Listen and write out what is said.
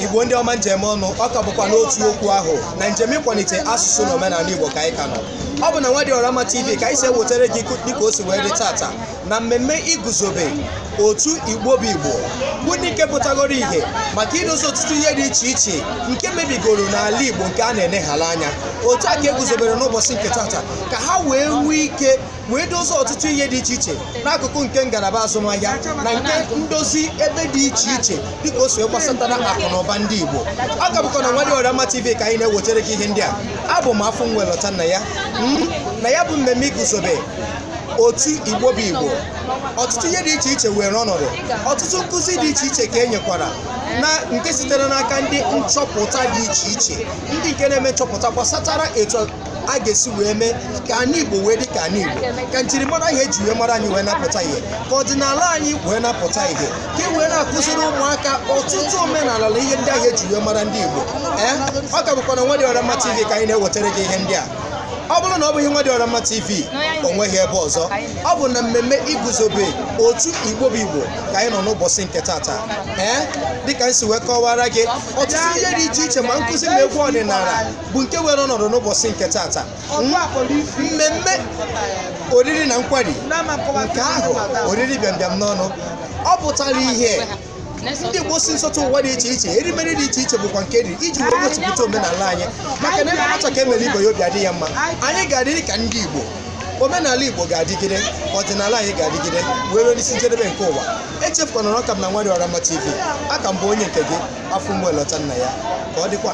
igbo ndị ọma m ji eme ọnụ ọ ka bụkwa n'otu okwu ahụ na njem ịkwalite asụsụ na omenala igbo ka anyị ka nọ ọ bụ na Nwadịọramma TV ka anyị si ewetara gị dịka o si wee dị tata na mmemme iguzobe otu igbo bụ igbo bụ ndị nke pụtagoro ihe maka idozi ọtụtụ ihe dị iche iche nke mebigoro n'ala igbo nke a na-eneghala anya otu a ka e guzobere n'ụbọchị nke tata ka ha wee nwee ike wee dozie ọtụtụ ihe dị iche iche n'akụkụ nke ngalaba azụmahịa na nke ndozi ebe dị iche iche dịka o si gbasatara akụ na ụba ndị Igbo ọ ka bụkwa na Nwadịọramma TV ka anyị na-ewetara gị ihe ndị a abụ m Afụnwa elota nna ya hmm? na ya bụ mmemme iguzobe otu igbo bụ igbo ọtụtụ ihe dị iche iche were ọnọdụ ọtụtụ nkụzi dị iche iche ka e nyekwara na nke sitere n'aka ndị nchọpụta dị iche iche ndị nke na-eme nchọpụta gbasatara etu a ga-esi wee mee ka anị Igbo wee dị ka anị Igbo ka njirimara ahụ e ji wee mara anyị wee na-apụta ihe ka ọdịnala anyị wee na-apụta ihe ka e wee na-akụziri ụmụaka ọtụtụ omenala na ihe ndị ahụ e ji wee mara ndị Igbo ee ọ ka bụkwa na Nwadịọramma TV ka anyị na-ewetara gị ihe ndị a ọ bụrụ na ọ bụghị Nwadịọramma TV o nweghị ebe ọzọ ọ bụ na mmemme iguzobe otu Igbo bụ Igbo ka anyị nọ n'ụbọchị nke tata ee dịka m si wee kọwara gị ọtụtụ ihe dị iche iche ma nkụzi na egwu ọdịnala bụ nke were ọnọdụ n'ụbọchị nke tata mmemme oriri na nkwari nke ahụ oriri bịambịam n'ọnụ ọ pụtara ihe ndị Igbo si nsọtụ ụwa dị iche iche erimeri dị iche iche bụkwa nke e riri iji wee gosipụta omenala anyị maka na e mee nwata ka e mere ibe ya obi adị ya mma anyị ga-adịrị ka ndị Igbo omenala igbo ga-adịgide ọdịnala anyị ga-adịgide wee ruo n'isi njedebe nke ụwa echefukwana na ọ ka bụ na Nwadịọramma tv a ka m bụ onye nke gị Afụnwa elota nna ya ka ọ dịkwa